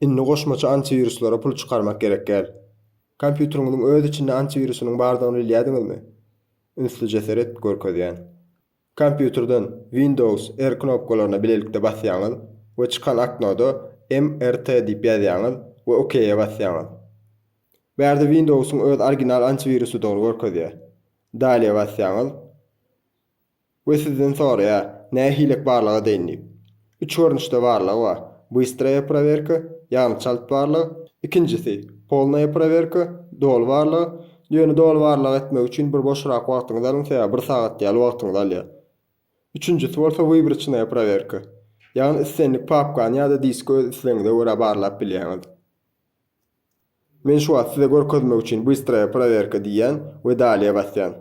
Indi goşmaça antiwiruslara pul çykarmak gerek däl. Kompýuteriňiziň öz içinde antiwirusynyň bardygyny bilýädiňizmi? Ünsli jeserit görkezýän. Kompýuterden Windows R knopkalaryna bilelikde basýaňyz we çykan oknoda MRT diýip ýazýaňyz we OK-e basýaňyz. Bärde Windows-yň öz original antiwirusydygyny görkezýär. Dalyýe basýaňyz. We sizden soraýar, nähilek barlag edeýin diýip. Üç görnüşde barlag bar, Bystraya prowerka, ýagny çalt barlag, ikinjisi, Polnaya prowerka, doly barlag, ýöne doly barlag etmek üçin bir boşrak wagtyňyzy alyň sebäbi bir sagat ýaly wagtyňyzy alýar. Üçünjisi bolsa Wybroçnaya prowerka, ýagny islendik papkany ýa-da diski öz islegiňize görä barlap bilýäňiz. Men şu wagt size görkezmek üçin Bystraya prowerka diýýän we Daliýe basýan.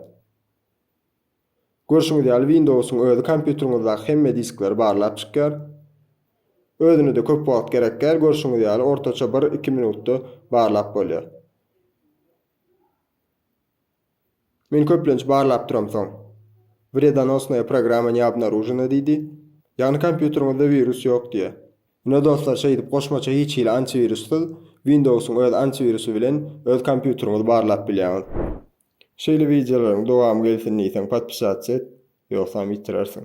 Görşüňiz ýaly Windowsyň özi kompýuteriňizdaky hemme diskleri barlap çykýar. Özüne-de köp wagt gerekýär, görşüňiz ýaly ortaça bir, iki minutda barlap bolýar. Men köplenç barlap duram soň. Wredonosnaya programma ne obnarujena diýdi. Ýagny kompýuteriňizde wirus ýok diýýär. Ine dostlar şeýdip goşmaça hiç hili antiwirussyz Windowsyň öz antiwirusy bilen öz kompýuteriňizi barlap bilýäňiz. Şeýle wideolaryň dowamy gelsin diýseň podpisatsa et ýogsam ýitirersiň.